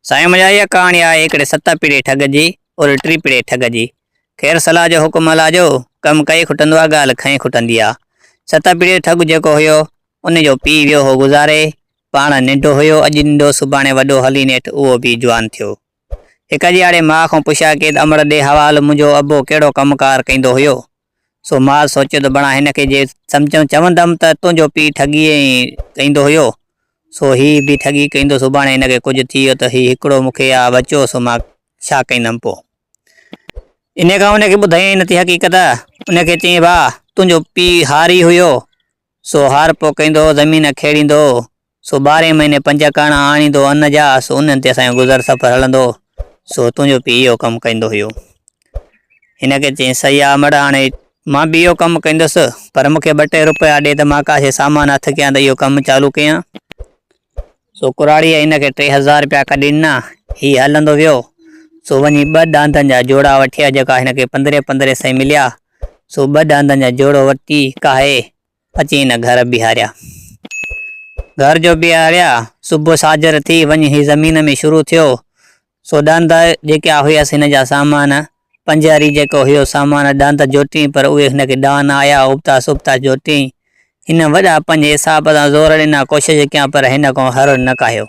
سائين منهنجا اها ڪهاڻي آهي هڪڙي ست پيڙهي ٺڳ جي اور ٽي پيڙهي ٺڳ جي خير صلاح جو حڪم هلا جو ڪم ڪئي کٽندو آ ڳالهه کئي کٽندي آ ست پيڙهي ٺڳ جيڪو هيو ان جو پي ويو هو گذاري پاڻ ننڊو هيو اڄ ننڊو سڀاڻي وڏو هلي نيٺ اهو به جوان ٿيو هڪ جياڙي ماء کان پڇيا ڪيد امڙ ڏي حوال منهنجو ابو ڪهڙو ڪم ڪار ڪيندو هيو سو مان سوچيو ته بڻا هن کي جي سمجهيم چوندم ته تنهنجو پيء ٺڳي ائين ڪيندو هيو، سو هي به ٺڳي ڪيندو، سڀاڻي هن کي ڪجهه ٿي ويو ته هي هڪڙو مون کي آ وچيو سو مان ڇا ڪيندم پوء؟ انهيء کان ان کي ٻڌايائين نه ٿي حقيقت، ان کي چيائين ڀاء تنهنجو پيء هاري هيو، سو هار پوکيندو، زمين کيڙيندو، سو ٻارهين مهيني پنج ڪاڻا آڻيندو ان جا، سو انهن تي اسان جو گذر سفر هلندو، سو تنهنجو پيء اهو ڪم ڪندو هيو. هن کي چيائين، سهي آ مڙهه هاڻي مان به اهو ڪم ڪندس، پر مون کي ٻه ٽي روپيا ڏي ته مان ڪا شيء سامان هٿ ڪيان ته اهو ڪم چالو ڪيان. سو ڪراڙيء هن کي ٽي هزار رپيا ڪڍي ڏنا. هي هلندو ويو. سو وڃي ٻه ڏاندن جا جوڙا وٺي آيو جيڪا هن کي پندرهين پندرهين سئين مليا. سو ٻه ڏاندن جا جوڙو ورتي ڪاهي اچي هن گهر بيهاريا. گهر جو بيهاريا. صبح ساجهر ٿي وڃي هي زمين ۾ شروع ٿيو. سو ڏاندا جيڪي آ هيس هن جا سامان، پنجهاري جيڪو هيو سامان ڏاندا جوٽين پر اهي هن کي ڏان نه آيا ابتاس ابتاس جوٽين هن وڏا پنهنجي حساب سان زور ڏنا ڪوشش ڪيان پر هن ڪو هر نه ڪاهيو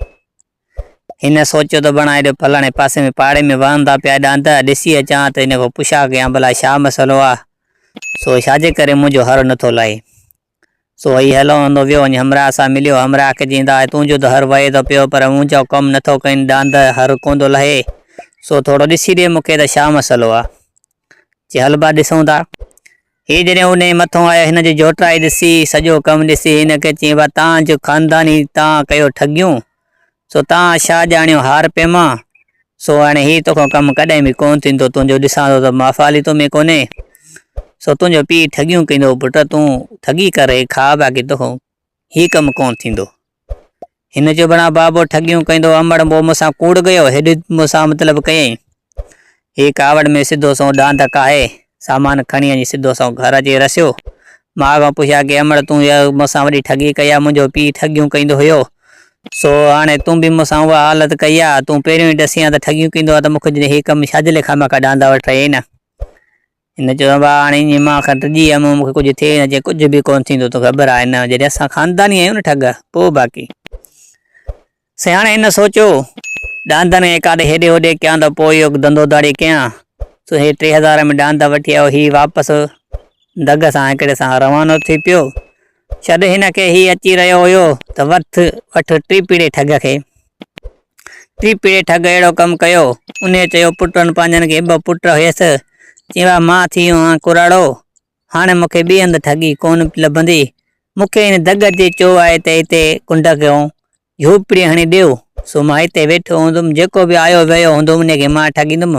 هن سوچيو ته بڻا هيڏو ڦلاڻي پاسي ۾ پاڙي ۾ وهندا پيا ڏاندا ڏسي اچان ته هن ڪو پڇا ڪيان ڀلا ڇا مسئلو آ سو ڇاجي ڪري منهنجو هر نٿو لائي. سو هي هلوندو ويو ۽ همراهه سان مليو. همراهه کي چيائين ته آء تنهنجو ته هر وهي ٿو پيو، پر مون جو ڪم نه ٿو ڪين، ڏاند هر ڪون ٿو لهي، سو ٿورو ڏسي ڏي مون کي ته ڇا مسئلو آ؟ چي هل ڀا ڏسون ٿا. هي جڏهن انهيء مٿون آيو، هن جي جهوٽائي ڏسي، سڄو ڪم ڏسي، هن کي چيائين ڀا تان جو خانداني تان ڪيو ٺڳيون، سو تان شاهه ڄاڻيو هار پيما، سو هاڻي هي توکان ڪم ڪڏهن به ڪونه ٿيندو، تنهنجو ڏسان ٿو ته مافعالي تو ۾ ڪونهي، سو تنهنجو پيء ٺڳيون ڪندو، پٽ تون ٺڳي ڪر هي کاء باقي توکان هي ڪم ڪونه ٿيندو. هن چيو، بڻا بابو ٺڳيون ڪندو، امڙ، پوء مون سان ڪوڙ ڪيو، هيڏي مون سان مطلب ڪيئي، هي ڪاوڙ ۾ سڌو سنئون ڏاند ڪاهي سامان کڻي اڃي سڌو سنئون گهر اچي رسيو. ماء کان پڇيا ڪي امڙ تون يا مون سان وڏي ٺڳي ڪئي آ، منهنجو پيء ٺڳيون ڪيندو هيو، سو هاڻي تون به مون سان اها حالت ڪئي آ، تون پهريون ئي ڏسين هان ته ٺڳيون ڪيندو آ ته مون کي جڏهن هي ڪم ڇا جي لاء خامخا ڏاندا وٽ رهي نه. هن چيو ابا هاڻي اڃي مان کان ڊڄي ويم مون کي ڪجهه ٿئي نه چيائين ڪجهه به ڪونه ٿيندو، توکي خبر آهي نه جڏهن اسان خانداني آهيون نه ٺڳ، پوء باقي. سياڻي هن سوچيو، ڏاندن ۽ ڪاڏ هيڏي هوڏي ڪيان ته پوء اهو ڌنڌو ڌاڙي ڪيان. سو هي ٽي هزار ۾ ڏاند وٺي آيو. هي واپس دڳ سان هڪڙي سان روانو ٿي پيو. ڇڏ هن کي، هي اچي رهيو هيو ته وٺ وٺ ٽيپڙي ٺڳ کي. ٽيپڙي ٺڳ اهڙو ڪم ڪيو. انهيء چيو، پٽن پنهنجن کي ٻه پٽ هيس. چيو، مان ٿي هئان ڪراڙو. هاڻي مون کي ٻي هنڌ ٺڳي ڪونه لڀندي. مون کي هن دڳ اچي چيو آهي ته هتي ڪنڊ ڪيون، جهوپڙي هڻي ڏيو، سو مان هتي ويٺو هوندم، جيڪو به آيو ويو هوندو انهيء کي مان ٺڳيندم،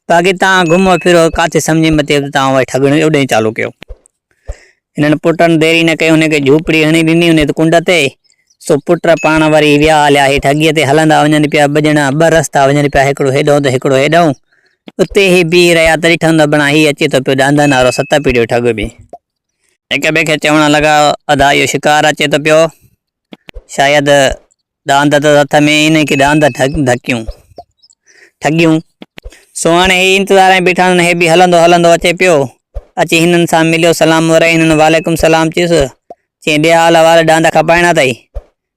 باقي توهان گهمو ڦرو، ڪاٿي سمجهه ۾ اچي ته توهان وئي ٺڳڻيون اڏيون چالو ڪيو. هنن پٽن دير ئي نه ڪئي، انهيء کي جهوپڙي هڻي ڏني انهيء هنڌ ڪنڊ تي، سو پٽ پاڻ وري ويا هليا هيٺ اڳيئي تي هلندا وڃن پيا، ٻه ڄڻا ٻه رستا وڃن پيا، هڪڙو هيڏهون ته هڪڙو هيڏهون، اتي هي بيهي رهيا، تڏهن ٺهندو بڻان هي اچي ٿو پيو، ڏاندن وارو ست پيڙهيون ٺڳ به. هڪ ٻئي کي چوڻ لڳا، ادا اهو شڪار اچي ٿو پيو، شايد ڏاند اٿس هٿ ۾، انهي کي ڏاند ڍڪيون، ٺڳيون. سو هاڻي هي انتظار ۾ بيٺا آهن، هي به هلندو هلندو اچي پيو، اچي هنن سان مليو، سلام ورائي، هنن وعليڪم سلام چيس، چيائين ڏي آ لوار، ڏاند کپائڻا اٿئي،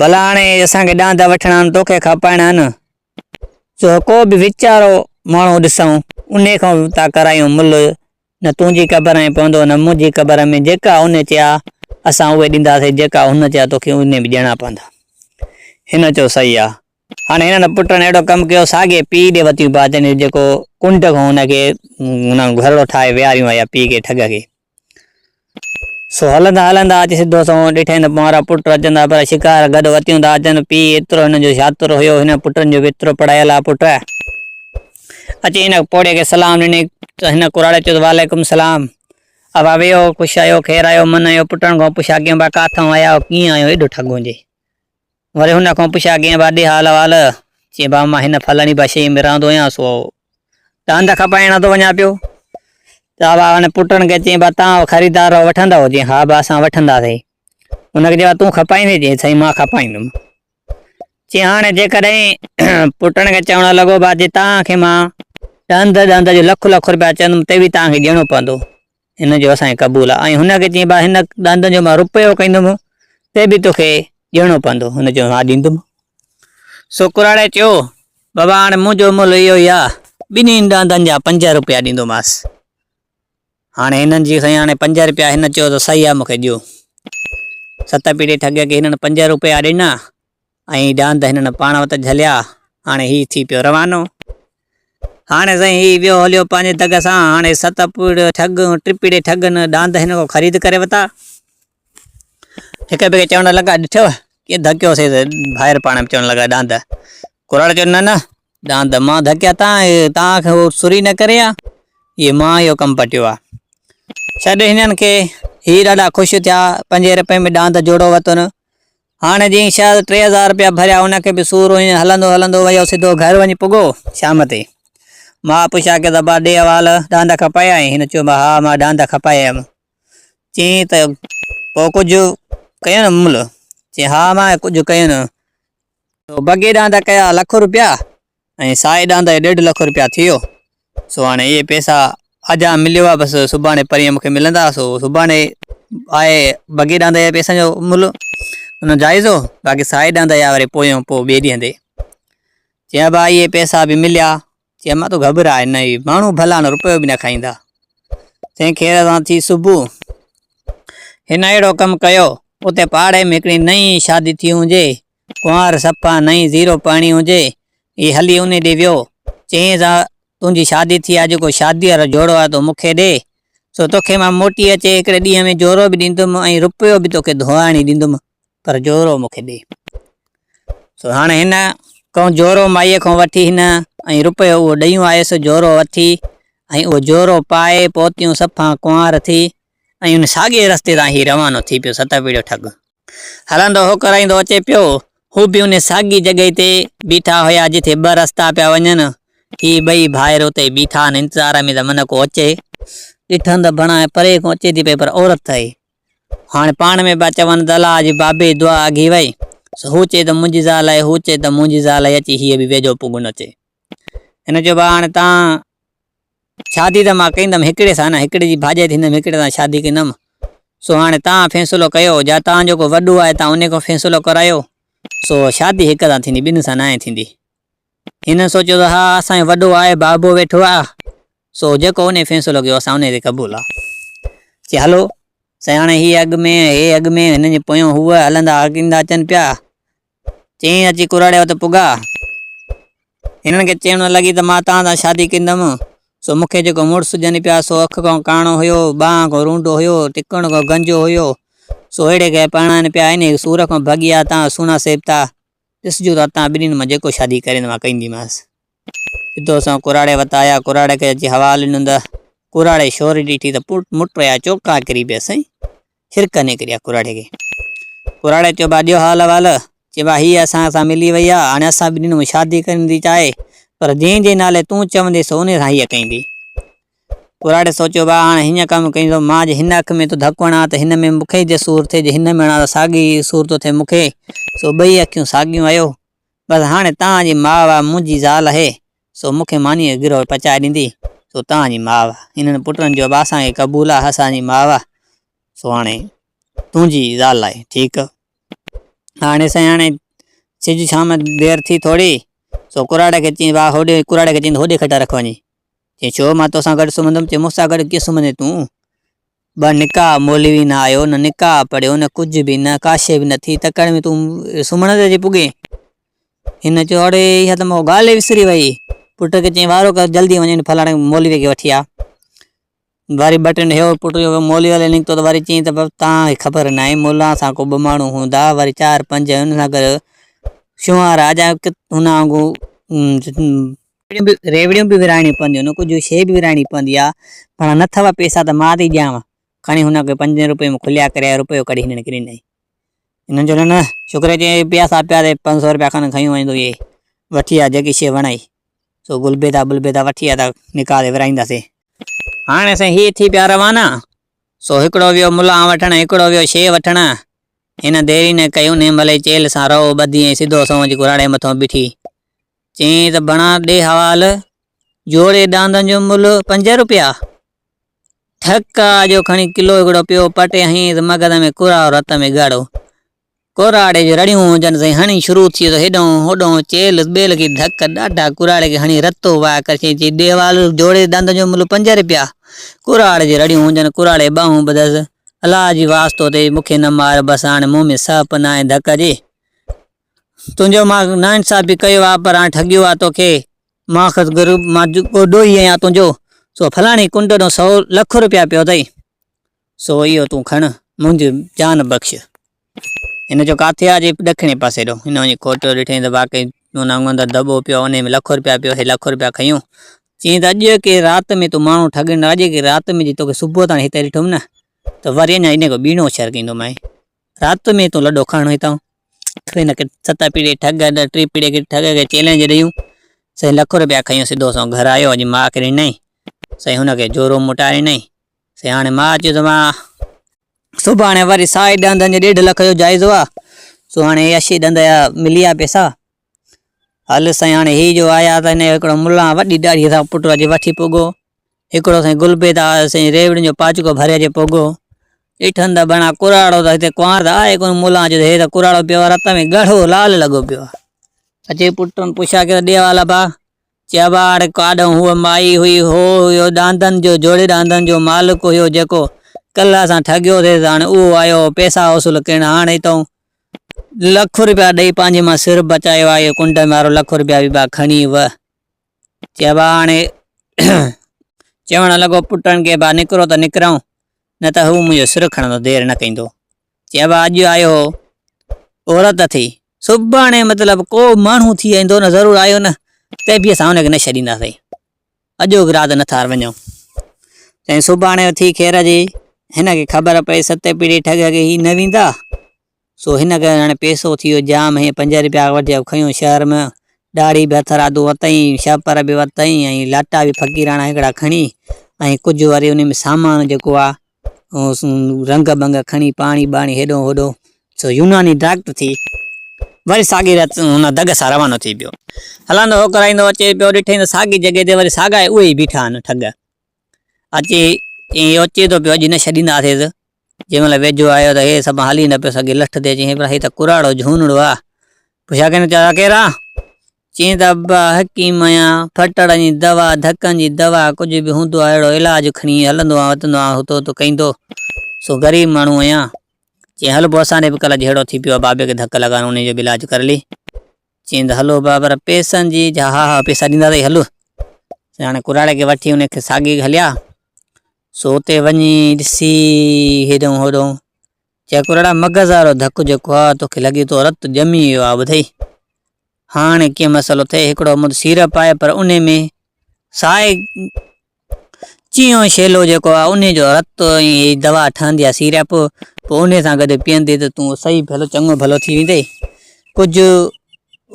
ڀلا هاڻي اسان کي ڏاند وٺڻا آهن توکي کپائڻا آهن سو ڪو به ويچارو ماڻهو ڏسئون ان کان تا ڪرايون ملهه نه تنهنجي قبر ۾ پوندو نه منهنجي قبر ۾ جيڪا ان چيا اسان اهي ڏينداسين جيڪا هن چيا توکي ان به ڏيڻا پوندا هن چيو صحيح آ هاڻي هنن پٽن اهڙو ڪم ڪيو ساڳي پيء ڏي وتيون پاتين جيڪو ڪنڊ کان هن کي هن گهرڙو ٺاهي ويهاريون آيا پيء کي ٺڳ کي سو هلندا هلندا اچي سڌو سنئون ڏٺائين ته پونئارا پٽ اچن ٿا پر شڪار گڏ وتيون ٿا اچن. پيء ايترو هن جو شاطر هيو، هن پٽن جو به ايترو پڙهايل آ پٽ. اچي هن پوڙهي کي سلام ڏني ته هن ڪراڙي چيو ته وعليڪم السلام ابا ويهو، خوش آهيو، خير آهيو، من آهيو، پٽن کان پڇا ڪيون ابا ڪاٿئون آيا آهيو، ڪيئن آهيون ايڏو ٺڳون جي. وري هن کان پڇيا ڪنهن وادي حال احوال؟ چي بابا مان هن فلاڻي بشيء ۾ رهندو هيان سو ته هنڌ کپائڻ نه ٿو وڃان پيو. چا بابا هن پٽن کي چئين بابا توهان خريدار رهو وٺندؤ؟ چئين ها بابا اسان وٺنداسين. هن کي چئين بابا تون کپائيندين؟ چئين سائين مان کپائيندم. چئين هاڻي جيڪڏهن پٽن کي چوڻ لڳو بابا جي توهان کي مان ڏهنڌ ڏهنڌ جو لک لک روپيا چوندم ته به توهان کي ڏيڻو پوندو. هن چيو اسان کي قبول آ. ۽ هن کي چيائين ڀاء هن ڏاندن جو مان رپيو ڪندومون تي به توکي ڏيڻو پوندو. هن چيو ها ڏيندومون. سو ڪراڙي چيو بابا هاڻي منهنجو ملهه اهو ئي آ، ٻنهي ڏاندن جا پنج رپيا ڏيندومانس. هاڻي هنن چيو سائين هاڻي پنج رپيا هن چيو ته صحيح آ مون کي ڏيو. ست پيڙهي ٺڳ کي هنن پنج رپيا ڏنا. ۽ ڏاند هنن پاڻ وٽ جهليا. هاڻي هي ٿي پيو روانو. هاڻي سائين هي ويو هليو پنهنجي دڳ سان. هاڻي ست پوڙهي ٺڳ ۽ ٽي پوڙهي ٺڳ نه ڏاند هن کان خريد ڪري وتا. هڪ ٻئي کي چوڻ لڳا، ڏٺئو! ڪيئن ڌڪيو سيس. ڀائر پاڻ ۾ چوڻ لڳا، ڏاند. ڪراڙ چيو، نه نه ڏاند، مان ڌڪيا تا تان کي هو سري نه ڪري ها. هيء مان اهو ڪم پٽيو ها. ڇڏ هنن کي. هي ڏاڍا خوش ٿيا. پنجين رپين ۾ ڏاند جوڙو وتن. هاڻي جئين شايد ٽي هزار رپيا ڀريا ان کي به سور هيون هلندو هلندو ويو سڌو گهر وڃي پڳو شام تي ماء پڇيا ڪي ابا ڏي حوال ڏاند کپايا آهين هن چيو ها مان ڏاند کپايا هيم چين ته پو ڪجهه ڪيو نه ممل چين ها مان ڪجهه ڪيو نه تو بگي ڏاند ڪيا لک رپيا ۽ سا ايڏاهن تائين ڏيڍ لک روپيا ٿيو سو هاڻي اهي پئسا اڄ آن مليو آهي بس سڀاڻي پرينء مونکي ملندا سو سڀاڻي آهي بگي ڏاهن تائين پئسن جو ملهه انهو جائزو باقي سا ايڏاهن تائين آهي وري پويون پوء ٻئي ڏينهن تي چيا با اهي پئسا به مليا چيا مان تو گهبرائي نه اهي ماڻهو ڀلا نه روپيو به نه کائيندا چئين خير سان ٿي صبح هن اهڙو ڪم ڪيو اتي پاڙي ۾ هڪڙي نئين شادي ٿي هجي ڪنوار صفا نئين زيرو پرڻي هجي هي هلي انهي ڏي ويو چيائينس آء تنهنجي شادي ٿي آ جيڪو شادي وارو جوڙو آ تو مون کي ڏي سو توکي مان موٽي اچي هڪڙي ڏينهن ۾ جوڙو به ڏيندم ۽ رپيو به توکي ڌوئاڻي ڏيندم پر جوڙو مون کي ڏي سو هاڻ هن ڪنهن جوڙو مائي کان وٺي هن ۽ رپيو اهو ڏيون آيس جوڙو اٿي ۽ اهو جوڙو پائي پوتيون صفا ڪنوار ٿي ۽ ان ساڳئي رستي تان هي روانو ٿي پيو ستر پيڙهيو ٺڳ هلندو هو ڪرائيندو اچي پيو هو به انهي ساڳئي جڳهي تي بيٺا هيا جتي ٻه رستا پيا وڃن هي ٻئي ڀائر اتي بيٺا آهن انتظار ۾ ته من ڪو اچي ڏٺن ته بڻاء پري کان اچي ٿي پئي پر عورت ته هئي هاڻي پاڻ ۾ پيا چون ته الا اڄ بابي دعا اگهي وئي سو هو چئي ته منهنجي زال آهي هو چئي ته منهنجي زال آهي اچي هيء به ويجهو پونگهن اچي ھن چيو ڀاء ھاڻي تان شادي ته مان ڪندم ھڪڙي سان نه ھڪڙي جي ڀاڄائي ٿيندم ھڪڙي سان شادي ڪندم سو ھاڻي تان فيصلو ڪيو جا تان جيڪو وڏو آھي تان انھي کان فيصلو ڪرايو سو شادي ھڪ سان ٿيندي ٻن سان ناھي ٿيندي ھن سوچيو ته ھا اسان جو وڏو آھي بابو ويٺو آ سو جيڪو انھي فيصلو ڪيو اسان انھي تي قبول آ چي ھلو سائين ھاڻي ھي اڳ ۾ ھي اڳ ۾ ھنن جي پويان ھو ھلندا ايندا اچن پيا چينء اچي ڪراڙي وٽ پڳا. هنن کي چيڻ نه لڳي ته مان توهان سان شادي ڪندم. سو مون کي جيڪو مڙس ڏين پيا سو اک کان ڪاڻو هيو، ٻانهن کان رونڊو هيو، ٽڪڻ کان گنجو هيو. سو اهڙي کي پرڻائين پيا انهيء سور کان ڀڳي آء توهان سهڻا سيبتا. ڏسجو ته توهان ٻنهين مان جيڪو شادي ڪري ته مان ڪنديمانس. سڌو سنئون ڪراڙي وٽ آيا. ڪراڙي کي اچي حوالو ڏنو ته ڪراڙي شوري ڏٺي ته مٽ رهيا چوڪا ڪري پيا سائين. ٿر ڪني ڪري آ ڪراڙي کي. ڪراڙي چيو ڀاء ڏيو حال احوال. چي ڀاء هيء اسان سان ملي وئي آ، هاڻي اسان ٻنهين ۾ شادي ڪرڻ ٿي چاهي، پر جنهن جي نالي تون چوندين سو انهي سان هيء ڪيندي. ڪراڙي سوچيو ڀاء هاڻي هيئن ڪم ڪينزو، مان جي هن اک ۾ ٿو ڌڪ هڻان ته هن ۾ مون کي جي سور ٿئي، جي هن ۾ هڻان ته ساڳي ئي سور ٿو ٿئي مون کي، سو ٻئي اکيون ساڳيون آهيو. بس هاڻي توهان جي ماء واء منهنجي زال آهي، سو مون کي مانيء جو گرهه پچائي ڏيندي، سو توهان جي ماء، انهن پٽن جو به اسان کي قبول آهي اسان جي ماء، سو هاڻي تنهنجي زال آهي، ٺيڪ. هاڻي سائين هاڻي سج شام دير ٿي ٿوري، سو ڪراڙي کي چئين وا هوڏي ڪراڙي کي چئين ته هوڏي کٽ رک وڃي، چئين ڇو مان توسان گڏ سمهندم، چئين مون سان گڏ ڪيئن سمهندين تون؟ ٻه نڪاح مولوي نه آيو، نه نڪاح پڙهيو، نه ڪجهه به، نه ڪاشي به نه ٿي، تڪڙ ۾ تون سمهڻ تي اچي پڳين. هن چيو، اڙي اها ته مون ڳالهه ئي وسري وئي. پٽ کي چيائين، وارو ڪر جلدي وڃين فلاڻي مولوي کي وٺي آ. وري ٻه ٽن هيور پٽ جو مولوي ولي نڪتو ته وري چيائين ته توهان کي خبر ناهي ملان سان ڪو ٻه ماڻهو هوندا وري چار پنج هن سان گڏ شونهار آ جا هن وانگو ريوڙيون به ورهائڻيون پونديون آهن، ڪجهه شيء به ورهائڻي پوندي آهي، ڀڻا نه اٿئو پئسا ته مان ٿي ڏيانء. کڻي هن کي پنجين روپين ۾ کليا ڪريا ۽ روپيو ڪڍي هنن کي ڏنائين. هنن چيو، نه نه، شڪر جو اهي پياسا پيا تي پنج سؤ روپيا کن کنيو وڃتو اهي وٺي آ، جيڪي شيء وڻئي، سو گلبيدا بلبيدا وٺي آ ته نڪاح تي ورهائينداسين. هاڻي سائين هي ٿي پيا روانا، سو هڪڙو ويو ملان وٺڻ ۽ هڪڙو ويو شيء وٺڻ. هن ديري نه ڪئي، انهيء مهل ئي چيلهه سان رئو ٻڌي ۽ سڌو سنئون اچي ڪراڙي مٿئون بيٺي. چيائين ته بڻا ڏي حوال، جوڙي ڏاندن جو ملھ پنج روپيا. ٺڪ آ جو کڻي ڪلو ھڪڙو پيو پٽي ھنئين ته مغز ۾ ڪراھو رت ۾ ڳاڙھو. ڪراڙي جون رڙيون ھجن سائين ھڻي شروع ٿئي ته ھيڏانھون ھوڏانھون چيلھس ٻيلھڪي ڌڪ ڏاڍا ڪراڙي کي ھڻي رتو وائي ڪري چيائين چي ڏي حوال، جوڙي ڏاندن جو ملھ پنج روپيا. ڪراڙي جون رڙيون ھجن ڪراڙي ٻانھون ٻڌس، الا جي واسطو اٿئي مون کي نه مار بس ھاڻي مون ۾ سھپ ناھي ڌڪ جي. تنهنجو مان ناانصاف به ڪيو آ پر هاڻي ٺڳيو آ توکي ماخذ غريب مان جيڪو ڏوهي آهيان تنهنجو سو فلاڻي ڪنڊ ڏنو سو لک روپيا پيو اٿئي سو اهو تون کڻ منهنجي جان بخش هن جو ڪاٿيا جي ڏکڻي پاسي ڏو هن وڃي کوٽو ڏٺائين ته واقعي ان اندر دٻو پيو ان ۾ لک روپيا پيو هي لک روپيا کنيون چيئي ته اڄ کي رات ۾ تون ماڻهو ٺڳين اڄ کي رات ۾ جي توکي صبح تائين هتي ڏٺوم نه ته وري اڃا ان کان ٻيڻو شر ڪيندومانء رات ۾ تون لڏو کاڻ هتان. اٺ وين کي ست پيڙهي ٺڳ اڏ ٽي پيڙهي کي ٺڳ کي چئلينج ڏيون. سائين لک روپيا کنيو سڌو سنئون گهر آيو اڄ ماء کي ڏنائين. سائين هن کي جورو موٽائي ڏنائين. سائين هاڻي ماء چيو ته مان. سڀاڻي وري سائي ڏند جي ڏيڍ لک جو جائزو آ. سو هاڻي عياشي ڏند جا مليا پئسا. هل سائين هاڻي هي جو آيا ته هن هڪڙو ملان وڏي ڏاڙهي سان پٽ اچي وٺي پڳو. هڪڙو سائين گلبيد آ سائين ريوڙين جو پاچڪو ڀري اچي پڳو. ڏٺن ته بڻا ڪراڙو ته هتي ڪنوار ته آهي ڪونه ملان جو هي ته ڪراڙو پيو آ رت ۾ ڳاڙهو لال لڳو پيو آ. اچي پٽن پڇا ڪيو ڏي والا ڀا چيوهار ڪاڏهن هوء مائي هئي، هو هيو ڏاندن جو، جوڙي ڏاندن جو مالڪ هيو، جيڪو ڪلهه اسان ٺڳيو ٿيس، هاڻي اهو آيو هو پئسا وصول ڪرڻ، هاڻ هتئون لک روپيا ڏئي پنهنجي مان سر بچايو آهي، اهو ڪنڊ ۾ وارو لک روپيا به با کڻي وئه. چيوهار هاڻي چوڻ لڳو، پٽن کي با نڪرو ته نڪرئون، نه ته هو منهنجو سر کڻندو، دير نه ڪندو. چيو اڄ آيو هو عورت ٿي سڀاڻي مطلب ڪو ماڻهو ٿي ايندو نه ضرور آيو نه ته به اسان هن کي نه ڇڏينداسين اجو گراد نه ٿار وڃو چائين سڀاڻي ٿي خير جي هن کي خبر پئي ست پيڙي ٺڳ کي هي نه ويندا سو هن کي هاڻي پيسو ٿي ويو جام هي پنج روپيا وٺي کنيو شهر ۾ ڏاڙهي به هٿ رادو وتائين شهپر به وتائين ۽ لاٽا به فقيراڻا هڪڙا کڻي ۽ ڪجهه وري ان ۾ سامان جيڪو آ رنگ بنگ کڻي پاڻي ٻاڻي هيڏو هوڏو سو يوناني ڊاڪٽر ٿي وري ساڳي رات ان دڳ سان روانو ٿي پيو. هلندو هوڪرائيندو اچي پيو ڏٺئي ته ساڳي جڳهه تي وري ساڳا اهي ئي بيٺا آهن ٺڳ. اچي چيائين اچي ٿو پيو اڄ نه ڇڏينداسيس. جنهن مهل ويجهو آيو ته هي سڀ هلي نه پيو سگهي لٺ تي چيائين پر هي ته ڪراڙو جهونڙو آ. پڇيا ڪنهن ڪيرا؟ چين ته ابا حڪيم آهيان، ڦٽڙن جي دوا، ڌڪن جي دوا، ڪجهه به هوندو آهي اهڙو علاج کڻي هلندو آهيان وتندو آهيان هتو هتو ڪيندو، سو غريب ماڻهو آهيان. چين هل پوء اسان ڏي به ڪلهه جهيڙو ٿي پيو آهي بابي کي ڌڪ لڳا انهيء جو به علاج ڪر لي. چين ته هلو ابا پر پئسن جي؟ جا ها ها پئسا ڏيندا اٿئي هل. سو هاڻي ڪراڙي کي وٺي انهيء کي ساڳي هليا، سو اتي وڃي ڏسي هيڏهون هوڏهون. چيڪور اڙا مغز وارو ڌڪ جيڪو آ توکي لڳي ٿو رت ڄمي ويو آ ٻڌئي هاڻي ڪيئن مسئلو ٿئي هڪڙو مد سيرپ آهي پر انهي ۾ سائي چيون شيلو جيڪو آ انهي جو رت ۽ هي دوا ٺهندي آ سيرپ پوء انهي سان گڏ پيئندي ته تون صحيح ڀلو چڱو ڀلو ٿي ويندي ڪجهه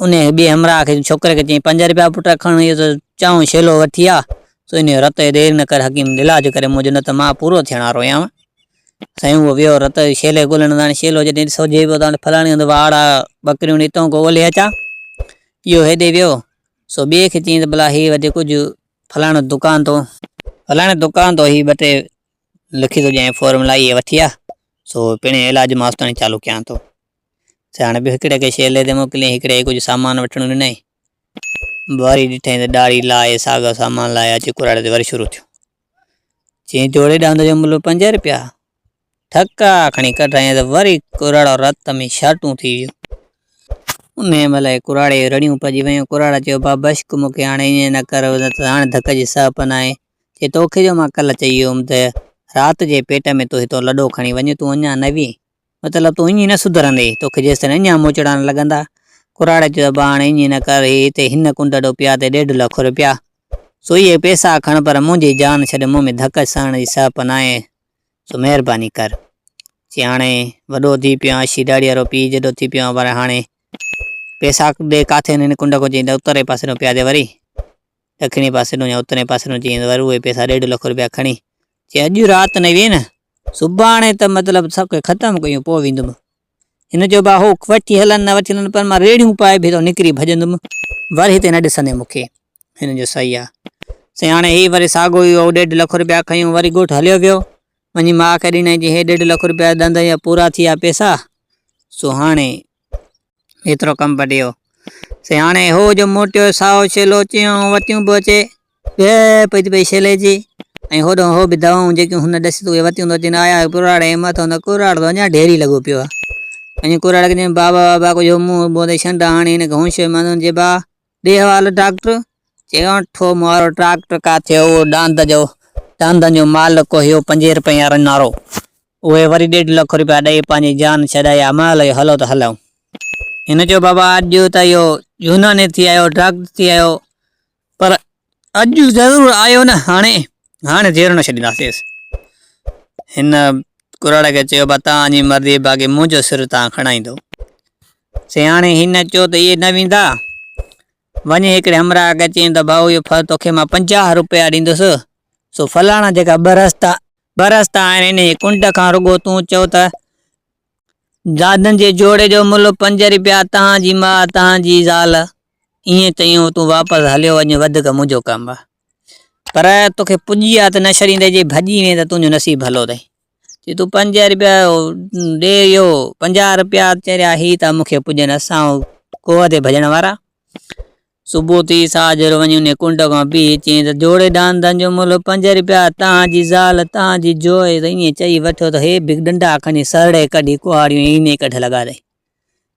انهي ٻي همراهه کي ڇوڪري کي چئي پنج رپيا پٽ کڻ اهو ته چائون شيلو وٺي آ سو انهي جو رت دير نه ڪر حڪيم علاج ڪري منهنجو نه ته مان پورو ٿيڻ وارو آهيان سائين هو ويو رت شيلي ڳولڻ هاڻي شيلو جڏهن ڏسو جي پيو ته ڦلاڻي هنڌ واڙ آ ٻڪريون نيتئون ڪو اولهي اچان. اهو هيڏي ويو سو ٻئي کي چيائين ته ڀلا هي وڌيڪ ڪجهه ڦلاڻو دڪان تو. ڦلاڻي دڪان تو هي ٻه ٽي لکي ٿو ڏيانء فورملا اهي وٺي آ سو پڻ علاج مان اوستائين چالو ڪيان ٿو. سائين هاڻي ٻيو هڪڙي کي شيلي تي موڪليائين هڪڙي کي ڪجهه سامان وٺڻو ڏنائين. وري ڏٺائين ته ڏاڙهي لاهي ساڳيو سامان لاهي اچي ڪراڙي تي وري شروع ٿيو. چيائين جوڙي ڏاند جو ملهه پنج رپيا ٿڪا کڻي ڪڍرائين ته وري ڪراڙو رت ۾ شرٽون ٿي ويو ان مهل ڪراڙي رڙيون پجي ويون ڪراڙ چيو با بشڪ مون کي هاڻي ائين نه ڪر نه ته هاڻي ڌڪ جي سهه پن آهي چي توکي جو مان ڪل چئي ويو هوم ته رات جي پيٽ ۾ تو هتو لڏو کڻي وڃ تون اڃا نوين مطلب تون اڃي نه سڌرندي، توکي جيستائين اڃا موچڙا نه لڳندا. ڪراڙي چيو ته ڀاڻ اڃي نه ڪر، هي هتي هن ڪنڊ ڏو پيا تي ڏيڍ لک روپيا. سو اهي پئسا کڻ پر منهنجي جان ڇڏ، مون ۾ ڌڪ سهڻ جي سهپ ناهي، سو مهرباني ڪر. چي هاڻي وڏو ٿي پيو آهيان، شيداڙيء وارو پيء جيڏو ٿي پيو آهيان پر هاڻي پئسا ڏي ڪاٿي هن هن ڪنڊ کان چيائين ته اترئين پاسي ڏانهن پيا تي وري ڏکڻي پاسي ڏانهن يا اترئين پاسي ڏانهن چيائين ته وري اهي پئسا ڏيڍ لک روپيا کڻي جي اڄ رات نه ويئي نه، سڀاڻي ته مطلب سڀ کي ختم ڪيون پوء ويندم. هن چيو ڀاء هو وٺي هلن نه وٺي هلن پر مان ريڙهيون پائي به ته نڪري ڀڄندم. ور هتي نه ڏسندين مون کي. هن جو صحيح آ. سياڻي هي وري ساڳو ئي هو ڏيڍ لک رپيا کنيون وري ڳوٺ هليو ويو. وڃي ماء کي ڏنائين چيائين هي ڏيڍ لک رپيا ڏند جا پورا ٿي ويا پئسا. سو هاڻي ايترو ڪم بڊيو. سياڻي هو جو موٽيو سائو شيلو چيون وتيون به اچي به پئي پئي شيلي جي ۽ هوڏو هو به دوائون جيڪيون هن ڏسي اهي وتيون ٿو اچين آيا ڪراڙ ۽ مٿو نه ڪراڙ ته اڃا ڍيري لڳو پيو آ ۽ ڪراڙ کي چيم بابا بابا ڪجهو منهن بوندي شنڊا هاڻي هن کي هونشو مانو جي با ڏي حوالو ڊاڪٽر! چيائون ٺو مئارو ڊاڪٽر ڪا ٿيو اهو ڏاند جو ڏاندن جو مالڪ ڪوهيو پنجين رپين وارو نارو. اهي وري ڏيڍ لک رپيا ڏئي پنهنجي جان ڇڏائي امايل اهو هلو ته هلئون. هن چيو بابا اڄ ته اهو يوناني ٿي آيو ڊاڪٽر ٿي آيو پر اڄ ضرور آيو نه هاڻي هاڻي دير نه ڇڏينداسيس هن ڪراڙ کي چيو بس تان جي مرضي باقي منهنجو سر تان کڻائيندو سياڻي هن چيو ته اهي نه ويندا وڃي هڪڙي همراهه کي چين ته ڀاء اهو ڦل توکي مان پنجاهه روپيا ڏيندس سو فلاڻا جيڪا ٻه رستا ٻه رستا آهن ان جي ڪنڊ کان رڳو تون چئو ته دادن جي جوڙي جو ملهه پنج روپيا تان جي ماء تان جي زال ايئن چيو تون واپس هليو وڃ وڌڪ منهنجو ڪم آ. پر توکي پڄي آ ته نه ڇڏيندين جي ڀڄي وئين ته تنهنجو نصيب ڀلو اٿئي. چي تون پنج رپيا ڏي اهو پنجاهه رپيا چريا هي ته مونکي پڄن اسان کوهه تي ڀڄڻ وارا صبح ٿي ساجر وڃي ان ڪنڊ کان بيهي چين ته جوڙي ڏاندن جو ملهه پنج رپيا تان جي زال تان جي جوئي ته ائين چئي وٺيو ته هي به ڏنڊا کڻي سرڙي ڪڍي ڪهاڙيون هينئي ڪڍ لڳا اٿئي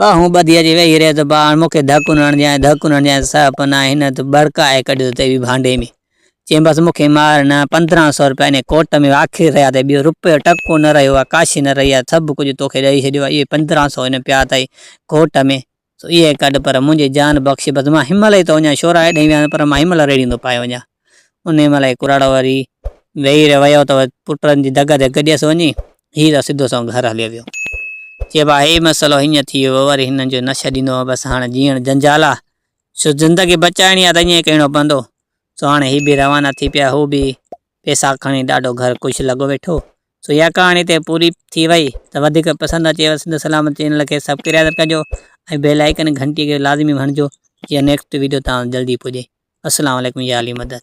ٻانهون ٻڌي اچي ويهي رهيو ته باهاڻ مون کي ڌڪ نه هڻجانء، ڌڪ نه هڻجانء ته سهپ نه آهي. هن ته ٻڙڪائي ڪڍيو ته اهي ڀانڊي ۾. چيمبس مون کي مار نه، پندرهن سؤ رپيا انهيء ڪوٽ ۾ واکير رهيا اٿئي، ٻيو رپيو ٽڪو نه رهيو آهي، ڪاشي نه رهي آهي، سڀ ڪجهه تو کي ڏئي ڇڏيو آهي، اهي پندرهن سؤ هن پيا اٿئي ڪوٽ ۾، سو اهي ڪڍ، پر منهنجي جان بخش، بس مان هن مهل ئي ٿو وڃان، شورائي ڏينهن ويان پر مان هن مهل ريڙهيون ٿو پائي وڃان. انهيء مهل هي ڪراڙو وري ويهي رهيو ته پٽن جي دڳ تي گڏيس وڃي، هي ته سڌو سنئون گهر هليو ويو. چئبو آ هي مسئلو هيئن ٿي ويو وري هنن جو نه ڇڏيندو هو، بس هاڻ جيئڻ جنجال آ، سو زندگي بچائڻي آ ته ائين ئي ڪرڻو پوندو. سو هاڻي هي به روانا ٿي پيا، هو به پئسا کڻي ڏاڍو گهر خوش لڳو ويٺو، سو اها ڪهاڻي هتي پوري ٿي وئي ته وڌيڪ پسند اچيو سنڌ سلامت چينل کي سبڪريادر ڪجو ۽ بيل آئيڪن گهنٽي کي لازمي هڻجو جيئن نيڪسٽ ويڊيو توهان وٽ جلدي پڄي السلام عليڪم يا علي مدد.